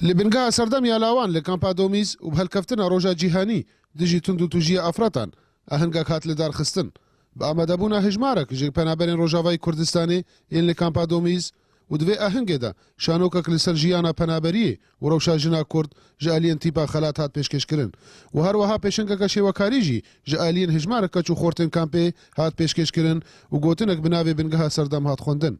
Li bingeha serdem ya lawan li Kampa Domîz û bi hilkeftina Roja Cîhanî dijî tundûtûjiya afretan, ahengek hat lidarxistin. Bi amadebûna hejmarek ji penaberên Rojavayê Kurdistanê yên li Kampa Domîz û di vê ahengê de şanokek li ser jiyana penaberiyê û rewşa jina Kurd ji aliyên Tîpa Xelat hat pêşkêşkirin û herweha pêşengeke şêwekarî jî ji aliyên hejmarek keç û xortên kampê hat pêşkêşkirin û gotinek bi navê bingeha serdem hat xwendin.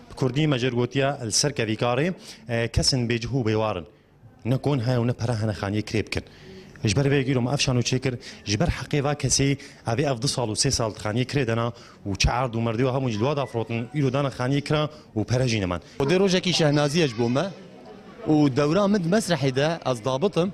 Bi kurdî me jêr gotiya li ser kevî karê kesên bêcih û bêwar in. Ne kon hene û ne pere hene xaniyê kirê bikin. Ji ber vê gîrom ev şano çê kir, ji ber heqê va kesî evê ev du sal û sê sal xaniyê kirê dana û çi erd û merdiyo hebûn ji li we da firotin îro dana xaniyê kira û pere jî neman. Xwedê rojekî şehnazî ye ji bo me û dewra min di mesrehê de ez dabit im.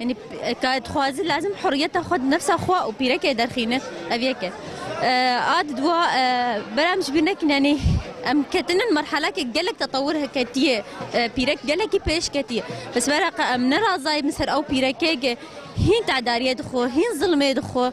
Yanî ka dixwaze lazim huriyeta xwe di nefsa xwe û pîrekê derxîne ev yek e. A di dua bera em ji bîr nekin yanî em ketinin merhelekê gelek tetewir ketiye pîrek gelekî pêş ketiye. Bi sibera qe em ne razayê min ser ew pîrekê ke hîn tedariyê dixwe, hîn zilmê dixwe.